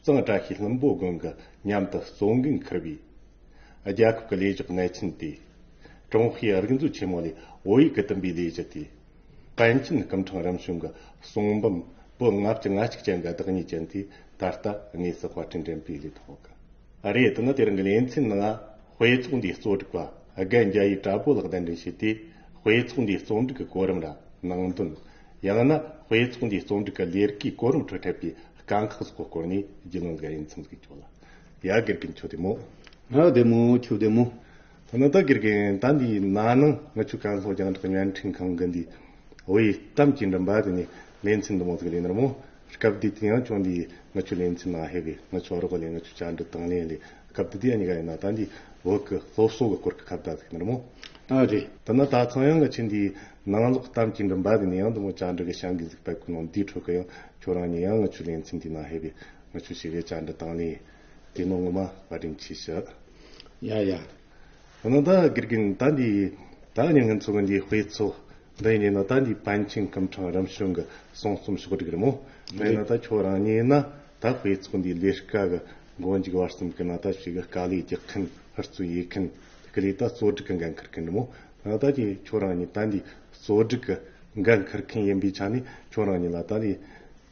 གཙང་བཀྲ་ཤིས་ལྷུན་པོ་དགོན་གྱི་མཉམ་དུ་གཙོ་འགན་འཁུར་བའི། རྒྱལ་ཁབ་ཀྱི་ལས་ཞུགས་གནས་ཆེན་དེ། ཀྲུང་ཧྭའི་རིག་མཛོད་ཆེན་མོ་ལས་བོད་ཡིག་གི་བསྟུན་པའི་ལས་གཞི་དེ། ཀན་ཆིན་སྐུ་འཕྲང་རིམ་བྱོན་གྱི་གསུང་འབུམ་པོད་ལྔ་བཅུ་ལྔ་གཅིག་ཅན་གྱི་བདག་ཉིད་ཅན་དེ་ད་ལྟ་དངོས་སུ་དཔར་སྐྲུན་འགྲེམས་སྤེལ་ལས་ཐོག་གི་རེད་དེ་ནི་དེ་རིང་གི་ལས་འཚན་ལྔ་དཔེ་ཚོགས་འདིའི་གཙོ་སྒྲིག་པ་རྒན་རྒྱ་ཡིས་དྲ་པོ་ལགས་གདན་འདྲེན་བྱས་ཏེ་དཔེ་ཚོགས་འདིའི་གཙོ་འགྲིག་གི་གོ་རིམ་ལ་ནང་དོན་ཡང་ན་དཔེ་ཚོགས་འདིའི་རྩོམ་སྒྲིག་གི་ལས་རིགས་ཀྱི་གོ་རིམ་ཁྲོད་འཕྲད་པའི་དཀའ་ཁག་སོགས་ཀྱི་སྐོར་ནས་རྒྱུས་ལོན་འགའ་ཡིག་མཚམས་སུ་བཅུག་ལ། ཡ་དགེ་རྒན་ཁྱོད་བདེ་མོ། ང་བདེ་མོ་ཁྱོད་བདེ་མོ། ཐ་ན་ད་དགེ་རྒན་ཟླ་འདིའི་ན་ནིང་མི་ཆོས་ཀ་ལྷོ་རྒྱང་བསྒྲགས་བརྙན་འཕྲིན་ཁང་གི་འདི་འི་གཏམ་གྱི་འགྲམ་པ་དེ་ནས་ལེ་ཚན་འདི་མང་ཙམ་ལས་ནར་མོ། སྐབས་འདི་དེ་ཡང་ཁྱོད་འདིའི་མི་ཆོས་ལེ་ཚན་ནང་ཧེ་བའི་མི་ཆོས་རོགས་ལས་མི་ཆོས་བཅར་འདྲི་དང་ལེན་ལས་སྐབས་འདི་དེ་གཉིས་ཀ་ཡིན་ན་ད་འདིའི་འོག་གི་སློབ་གསོ་གི་སྐོར་གྱི་ཁ་བརྡ་ཟིག་ནར་མོ། ཨ་རེ། ཐ་ན་ད་ཚང་ཡང་ང་ཆེ་འདིའི་ནང་ལོག་གཏམ་གྱི་འདྲི་འབག་གི་ནི་ཡང་དུ་མོ་བཅའ་འདྲི་གི་བྱང་གི་གཟིགས་པའི་ཁུ་ནང་དེའི་ཁྲོད་ཀྱི་ཡང་ཁྱོད་རང་ཉིད་ཡང་ངུ་ཆུ་ལན་ཚིམ་དེའི་ནང་ཧེ་བི་ངུ་ཆུ་ཞིག་རེད་བཅའ་འདྲི་བཏང་ནས་དེ་ནང་ངུ་མ་བ་དྲིན་ཆེ་ཞུ། ཡ་ཡ། འོ་ན་ད་དགེ་རྒན་ད་འདི་ད་ངས་ངྷི་ཚོ་གི་འདི་དཔེ་ཚོ་འདི་ཡིན་ན་ད་འདི་པཎ་ཆེན་སྐུ་འཕྲང་རིམ་བྱོན་གི་གསུང་རྩོམ་ཞོག་འགྲིག་རི་མོ་མེད་ན་ད་ཁྱོད་རང་ཉིད་ན་ད་དཔེ་ཚོ་འདི་ལས་དཀའ་གི་མགོ་འཇིག་བར་གསུམ་གི་ན་ད་ཕྱི་གི་དཀའ་ལས་རྒྱག་མཁན་ཧུར་བརྩོན་ཡས་མཁན་དེ་གི་ལས་ད་གཙོ་སྒྲིག་གི་འགན་འཁུར་མཁན་རི་མོ། བདག་གིས་ཁྱོད་རང་ཉིད་ད་འདིའི་གཙོ་སྒྲིག་གི་འགན་འཁུར་མཁན་ཡིན་པའི་ཆ་ནས་ཁྱོད་རང་ཉིད་ལ་ད་ལོའི་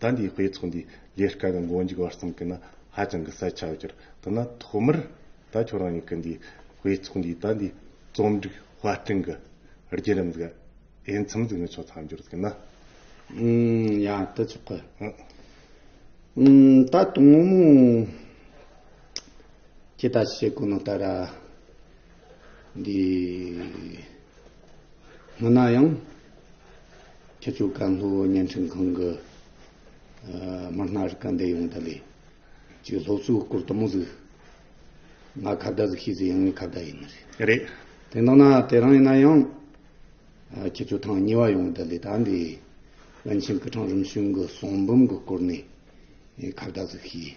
ད་འདིའི་དཔེ་ཚོགས་འདིའི་ལས་ཀ་གི་མགོ་མཇུག་བར་གསུམ་གྱི་ནང་ཧ་ཅང་གི་གསལ་ཆ་གྱུར་འདུག་ན་ཐོག་མར་ད་ཁྱོད་རང་ཉིད་ཀྱི་འདིའི་དཔེ་ཚོགས་འདིའི་ད་འདིའི་རྩོམ་སྒྲིག་དཔར་སྐྲུན་གྱི་བརྒྱུད་རིམ་གྱི་དབྱེ་མཚམས་འཛུགས་ནས་ཆོག་མཚམས་སྦྱོར་གྱི་ནང། ཡང་དེ་ཚོགས་ཀྱི་ད་དུང་མོ་མོ་ཁྱེད་ད་བཤད་དགོས་ན་ད་ར། འདི་སྔོན་ན་ཡང་ཁྱེད་ཚོའི་བཀའ་སློབ་བརྙན་འཕྲིན་ཁང་གི་དམར་སྣ་རི་ཀ་འདེད་ཡོང་ད་ལས་ཀྱི་སློབ་གསོའི་སྐོར་དུ་མོ་གཟིགས་ང་ཁ་བརྡ་གཟིགས་ཤེས་ཚེ་ཡང་ངས་ཁ་བརྡ་ཡིན་ནི་རེད། རེད་དེ་འདང་ན་དེ་རང་ཡིན་ན་ཡང་ཁྱེད་ཚོའི་ཐང་ཉེ་བ་ཡོང་ད་ལས་ད་འདི་བན་ཆེན་སྐུ་ཕྲེང་རིམ་བྱོན་གྱི་གསུང་འབུམ་གྱི་སྐོར་ནས་ཁ་བརྡ་གཟིགས་ཤེས།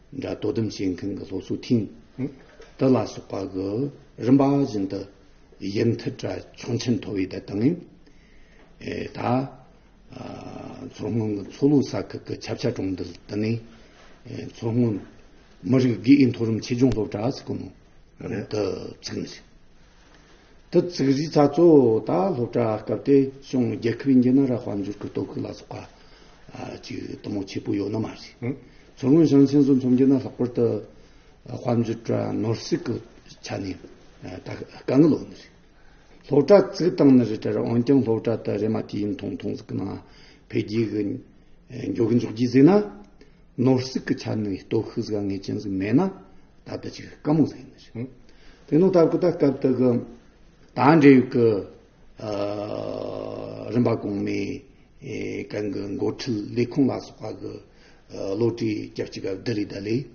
འདྲ་དོ་དམ་བྱེད་མཁན་གྱི་སློབ་གསོ་ཐིང་གྲགས་ལ་སོགས་པ་གི་རིམ་པ་བཞིན་དུ་དབྱེ་མཐུད་གྲ་ཆུང་ཆེན་མཐོ་བའི་བརྡ་དང། ད། མཚོ་སྔོན་གྱི་མཚོ་ལུགས་ས་ཁུལ་གྱི་ཆབ་ཆ་གྲོང་རྡལ་དུ་ནི། མཚོ་སྔོན་མི་རིགས་དགེ་འོས་མཐོ་རིམ་ཆེད་སྦྱོང་སློབ་གྲྭ་ཟེར་གོ་ནོར་དུ་ཚུད་ཟིན། དུ་བཙུགས་གཞིས་ཚགས་གཙོ་བོ་དང་སློབ་གྲྭ་སྐབས་དེ་བྱུང་རྒྱལ་ཁབ་ཡིན་གྱི་ན་ར་དཔལ་འབྱོར་གྱི་དོ་ཁུར་ལ་སོགས་པ་གྱི་གཏོང་བ་ཆེ་པོ་ཡོད་ན་མ་རེད། མཚོ་སྔོན་ཞིང་ཆེན་སོགས་མཚོ་འགྱུར་ན་ལྷག་པར་དུ་དཔལ་འབྱོར་བཀྲ་ནོར་སྲིད་ཀྱི་ཆ་ནས་ད་དཀའ་ངལ་འོག་ནས་རེད། སློབ་གྲྭ་བཙུགས་སྟངས་ནི་རེ་བྲལ་རེད་འོན་ཀྱང་སློབ་གྲྭ་དེ་རེ་མ་ཐིག་ཡིན་མཐོང་མཐོང་ཟིག་གི་ནང་འཕེལ་རྒྱས་ཀྱི་མགྱོགས་མགྱོགས་ཀྱིས་གཟིགས་ན། ནོར་སྲིད་ཀྱི་ཆ་ནས་སྟོབས་ཤུགས་དཀའ་ངལ་ཅན་ཟིག་མེད་ན་ད་ལྟ་ཅིག་དཀའ་མོ་ཟིག་ཡིན་ནི་ཞིག། དེ་ནོ་ད་ཀུ་ད་སྐབས་དག་གི་དང་འབྲེལ་ཡོད་ཀྱི་རིམ་པ་གོང་མའི་གང་གི་མགོ་ཁྲིད་ལས་ཁུངས་ལ་སོགས་པ་གི་བློ་གྲོས་རྒྱ་བསྐྱེད་སྐབས་འདི་རིགས་ད་ལས་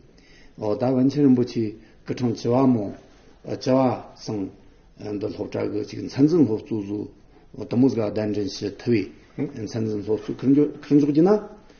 འོ་ད་བན་ཆེན་རིན་པོ་ཆེ་ཀི་ཁྲང་བྱི་བ་མོ་བྱི་བ་སང་འདི་སློབ་གྲྭ་གི་ཅིག་མཚན་འཛིན་སློབ་གཙོ་ཟུར་དུ་མོ་ཟིག་ལ་གདན་འདྲེན་བྱེད་ཐུབ་བས་མཚན་འཛིན་སློབ་གཙོ་ཁུར་འཇོག་གྱིས་ན།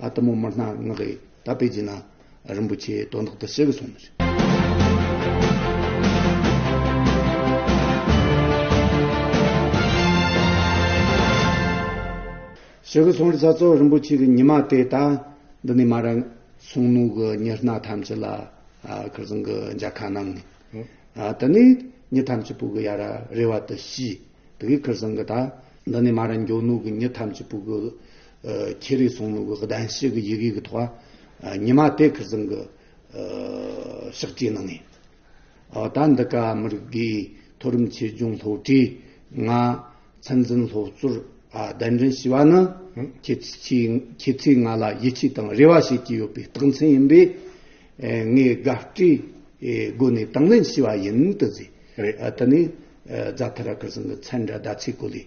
ཨ་ཏི་མོ་དམར་ནག་ལྔ་གི་དར་སྤེལ་བྱས་ན་རིན་པོ་ཆེའི་དོན་རྟག་ཏུ་བྱེད་དགོས་སོང་ཟེར། བྱེད་དགོས་སོང་ཟེར་ས་སོགས་རིན་པོ་ཆེ་གི་ཉི་མ་དེ་ད་འདི་ནས་མ་རེད། གསུང་ནུ་གི་ཉི་སྣ་ཐམས་ཅད་ལ་ཁིར་ཟིང་གི་འཇའ་ཁ་གནང་ནས། དེ་ནས་ཉི་ཐམས་ཅད་སྤུ་གི་ཡར་རེ་བ་དུ་ཤི། དེ་གའི་ཁིར་ཟིང་གི་ད་འདི་ནས་མ་རེད་མགྱོགས་ནུ་གི་ཉི་ཐམས་ཅད་སྤུ་གི། ཁྱེད་རིགས་སོང་ནུབ་གདན་ཞུས་ཀྱི་ཡི་གེ་གི་ཐོག་ཉི་མ་དེ་ཁུ་སིམ་གི་ཕྱག་བྲིས་གནང་ངེས། ད་འདི་ག་མི་རིགས་འདིའི་མཐོ་རིམ་ཆོས་སྐྱོང་སློབ་གྲྭའི་ང་མཚན་འཛིན་སློབ་གཙོར་གདན་འདྲེན་ཞུས་པ་ནི་ཁྱེད་ཚོས་ང་ལ་ཡིད་ཆེས་དང་རེ་བ་བྱེད་ཀྱི་ཡོད་པའི་རྟགས་མཚན་ཡིན་པས་ངས་དགའ་སྤྲོའི་སྒོ་ནས་དང་ལེན་ཞུས་པ་ཡིན། དེ་ནས་རྫ་དྷ་ར་ཁུ་སིམ་གྱི་ཚན་དྲ་ཟླ་ཚེས་སྐོར་ལས།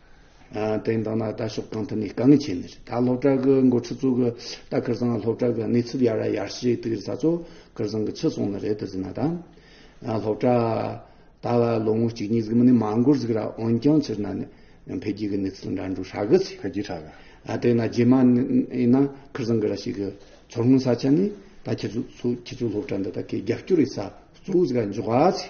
དེང་དང་ན་ད་ཕྱོགས་གང་ཐུབ་ནས་དཀའ་ངལ་ཆེ་ནི་རེད་ད་སློབ་གྲྭ་གི་འགོ་ཁྲི་ཚོ་གི་ད་ཁིར་ཚང་སློབ་གྲྭ་གི་གནས་ཚུལ་ཡར་ར་ཡར་ཞེ་དེ་གིར་ཚ་ཚོ་ཁིར་ཚང་གི་ཕྱི་སོང་ནི་རེད་དུ་ཟིན་ན་ད་སློབ་གྲྭ་ད་ལ་ལོ་ངོ་གཅིག་གཉིས་ཟིག་མི་ནི་མ་འགོར་ཟིག་ར་འོན་ཀྱང་ཕྱིར་ན་ནི་འཕེལ་རྒྱས་ཀི་གནས་ཚུལ་འདྲ་འདྲུག་ཧྲ་གི་ཚེ་འཕེལ་རྒྱས་ཧྲ་གི་དེ་ན་རྗེས་མ་ཡིན་ན་ཁིར་ཚང་གི་ར་ཞིག་གི་ཚོར་སྔོན་ས་ཆ་ནི་ད་ཁྱེད་ཚོ་སློབ་གྲྭ་འདི་ད་གི་རྒྱབ་སྐྱོར་ཡི་ས་གཙོ་བོ་ཟིག་ར་འཇོག་ག་ཚེ།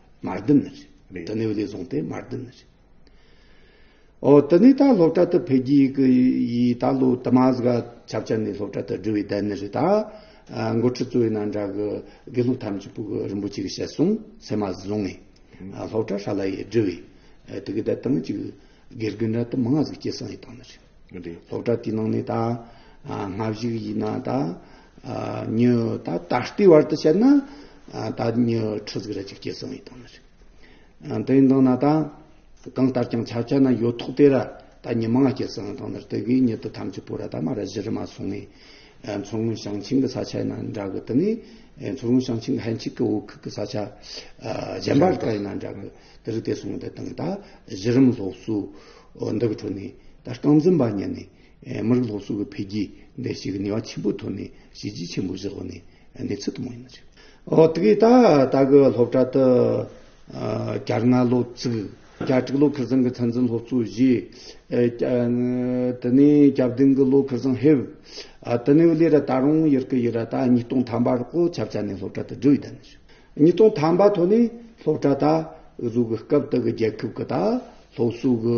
མར་ལྡིང་ནི་རེད། དེ་ནི་བློས་བཟུང་སྟེ་མར་ལྡིང་ནི་རེད། ཨོ། དེ་ནི་ད་སློབ་གྲྭ་དུ་ཕེབས་རྒྱུའི་གི་ཡིས་ད་ལོའི་དུ་མ་ཟིག་ཆབ་ཆ་ནས་སློབ་གྲྭ་དུ་འགྲུལ་བའི་དལ་ནི་རེད། མགོ་ཁྲིད་གཙོ་བོའི་ན་འདྲ་གི་དགེ་སློབ་ཐམས་ཅད་པུ་རིན་པོ་ཆེ་གིས་བཤད་སོང་ཟེར་མ་ཟིག་ལོང་ངས་སློབ་གྲྭ་ཧྲ་ལ་ཡི་འགྲུལ་བའི་དུ་གི་དལ་སྟངས་ཅིག་དགེ་རྒན་འདྲ་དུ་མ་ང་ཟིག་སྐྱེལ་སོང་ཡི་དང་ནི་རེད། སློབ་གྲྭ་དེའི་ནང་ནས་ད་སྔ་གཞུག་ཡིན་ན་ད། ཉི་ད་ད་ལྟའི་བར་དུ་བཤད་ན་ད་ཉི་ཁྲི་ཟིག་རེ་ཅིག་སྐྱེ་སོང་ཡོད་དང་མ་རེད། དེ་ཡིན་དང་ན་ད་གང་ལྟར་ཀྱང་ཆ་བྱས་ན་ཡོད་ཐོག་དེ་ར་ད་ཉི་མང་སྐྱེ་སོང་ཡོད་དང་མ་རེད་དེ་གིས་ཉི་ད་ཐམས་ཅད་པོ་ར་ད་མ་ར་བཞི་རེ་མ་སོང་ངས་མཚོ་སྔོན་ཞིང་ཆེན་གྱི་ས་ཆ་ཡིན་ན་འདྲ་གི་དེ་ནས་མཚོ་སྔོན་ཞིང་ཆེན་གྱི་ཧན་ཆིག་གི་འོག་ཁུག་གི་ས་ཆ་གཞན་པ་དག་ཡིན་ན་འདྲ་གི་དེ་རིགས་དེ་སོང་དེ་དང་ད་གཞི་རིམ་སློབ་གསོ་འདི་གི་ཁྲོད་ནས་ད་རྐང་འཛིན་པ་ཉན་ནས་མི་རིགས་སློབ་གསོ་གི་འཕེལ་རྒྱས་འདི་ཞིག་ནུས་བ་ཆེན་པོའི་ཐོག་ནས་བྱས་རྗེས་ཆེན་པོ་བཞག་པ་ནི་གནས་ཚུལ་དུ་མ་ཡིན་ནི་རེད། འོ་དེ་གའི་ད་ལྟ་གི་སློབ་གྲྭ་དུ་གྱ་ལྔ་ལོ་བཙུགས། གྱ་དྲུག་ལོ་ཁེར་བཟང་གི་ཚན་རྩལ་སློབ་གཙོ་བཞེས། དེ་ནས་གྱ་བདུན་གྱི་ལོ་ཁེར་བཟང་ཧེབ། དེ་ནས་ལས་ར་ད་རུང་ཡེར་ཀི་ཡེར་ར་ད་ཉིས་སྟོང་ཐམ་པར་ཀོ་ཆབ་ཆ་ནས་སློབ་གྲྭ་དུ་བསྒྲུགས་ཡོད་ད་ནི་རེད། ཉིས་སྟོང་ཐམ་པ་ཐོག་ནས་སློབ་གྲྭ་ད་བཟོ་གི་སྐབས་དེ་གི་རྒྱལ་ཁབ་གི་ད་སློབ་གསོ་གི་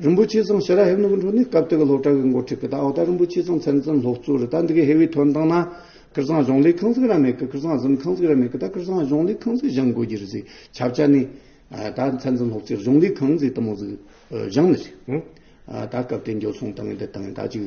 རིན་པོ་ཆེ་ཚང་ཤེས་རབ་ཧེབ་ནུ་གུ་འཕྲོ་ནི་སྐབས་དེ་གི་སློབ་གྲྭ་གི་འགོ་ཁྲིད་པ་དང་ཨོ་ད་རིན་པོ་ཆེ་ཚང་མཚན་འཛིན་སློབ་གཙོ་རེད་ད་འདི་གི་ཧེ་བའི་དོན་དང་ན། ཀིར་ཚང་གཞུང་ལས་ཁང་ཟིག་ར་མེད་ཀི་ཀིར་ཚང་གཟིམ་ཁང་ཟིག་ར་མེད་ཀི་ད་ཀིར་ཚང་གཞུང་ལས་ཁང་ཟིག་བཞེངས་དགོས་ཀྱི་རེད་ཟིག་ཆབ་ཆ་ནི། ད་མཚན་འཛིན་སློབ་གཙོས་གཞུང་ལས་ཁང་ཟིག་དུ་མ་ཟིག་བཞེངས་ནི་རེད། ད་སྐབས་དེ་འགྱོ་སོང་དང་ནི་འདི་དང་ནི་ད་ཅིག།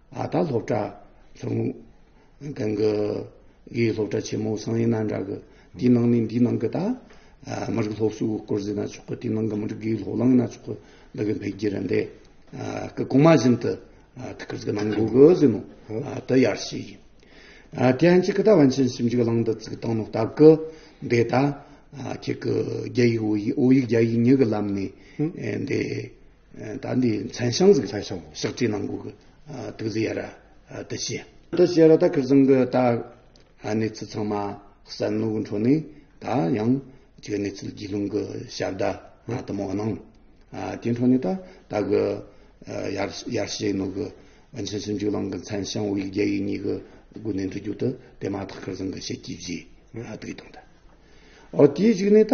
ཨ་ད་སློབ་གྲྭ། གང་གི། གི་སློབ་གྲྭ་ཆེན་མོ་སང་ཡིན་ན་འདྲ་གི། དེའི་ནང་ནས་འདིའི་ནང་གི་ད། མི་རིགས་སློབ་གསོའི་སྐོར་ཟེར་ན་ཆོག་གི་དེའི་ནང་གི་མི་རིགས་ཀྱི་སློབ་གླིང་ན་ཆོག་གི། འདི་གི་འཕེལ་རྒྱས་རེ་འདས། གི་གོང་མ་བཞིན་དུ། ཐུགས་ཁུར་གྱི་གནང་དགོས་གི་ཟེར་མོད། དེ་ཡར་བཤད་ཡིན། དེ་ཡན་གྱི་གི་ད་བན་ཆེན་ཞིབ་འཇུག་གླིང་འདི་བཙུགས་སྟངས་ནི་སྟབས་གི། འདི་ད། ཁྱེད་གི་རྒྱ་ཡིག་འོ་ཡིག་རྒྱ་ཡིག་གཉིས་གི་ལམ་ནས། འདི། ད་འདི་མཚན་ཤང་ཟིག་ལྷ་ཤང་ཞག་ཁྲི་ནང་གུག་དུག་རྫི་ཡ་ར་དུ་ཤི། དུ་ཤི་ར་ད་ཁི་ཟིང་གི་ད་གནས་ཚུལ་ཚང་མ་གསལ་ནུག་འཕྲོ་ནས་ད་ཡང་གི་གནས་ཚུལ་རྒྱུས་ལུང་གི་ཞབས་ད་ང་དུ་མོ་གནང། དེ་འཕྲོ་ནས་ད་ད་གི་ཡར་ཤི་ནུག་གི་ཨོན་ཆེན་སུན་ཇུ་ལང་གི་མཚན་ཤང་དབུས་རྒྱ་ཡིག་གཉིས་གི་དགུ་ནས་འབྲི་རྒྱུག་དུ་དེ་མ་ཐག་ཁི་ཟིང་གི་ཤི་སྐྱིད་བཞི་ང་དུ་གི་དང་ད། ཨོ་དེའི་གཞིག་ནས་ད།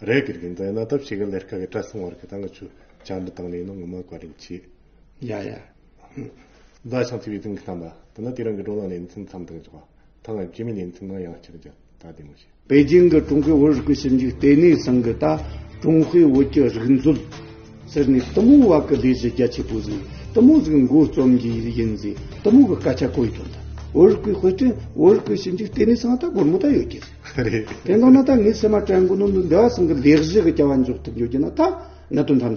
རེ་གིར་གིན་ཛའི་ན་ཏབ་ཤི་གི་ལེར་ཁ་གི་ཏྲ་སིང་བར་གི་ཏང་གི་ཆུ་ཅང་འདི་ཏང་ལེ་ཡིན་ནོ་ངོ་མ་བཀའ་དྲིན་ཆེ། ཡ་ཡ། ཛའི་ཤང་ཚིག་བའི་ཏིང་གི་ཏམ་པ་དེ་ན་དེ་རང་གི་འགྲོ་ལང་ལེ་མཚིན་ཚམ་ཏང་ཅོག་པ་ཐང་ངམ་ཅི་མི་ལེ་མཚིན་ནང་ཡང་ཅིག་ཅིག་ད་དེ་མོ་བྱེད། པེ་ཅིང་གི་ཀྲུང་གོའི་བོད་རིག་པའི་ཞིབ་འཇུག་ལྟེ་གནས་ཚང་གི་ད་ཀྲུང་ཧྭའི་བོད་ཀྱི་རིག་མཛོད། ཟེར་ནས་གཏི་མུག་བ་གི་ལས་གཞི་རྒྱ་ཆེ་པོ་བཟུང་གཏི་མུག་གཟུགས་མགོ་རྩོམ་གྱི་ཡིན་ཟེར་གཏི་མུག་གི་སྐད་ཆ་གོ་ཡི་དོན་དང་བོད་རིག་པའི་དཔེ་སྐྲུན་བོད་རིག་པའི་ཞིབ་འཇུག་ལྟེ་གནས་ཚང་ད་སྒོར་མོ་ད་ཡོད་ཀྱི་རེད། རེད། དེ་མདོར་ན་ད་ངའི་སེམས་མ་དྲན་གོ་ནོར་འདུག་འདི་བ་གསུམ་གྱི་ལས་གཞི་གི་སྐྱ་བ་འཇོག་ཐུབ་འཇོག་རྒྱུ་ན་ད་གནད་དོན་ཐམས་ཅད།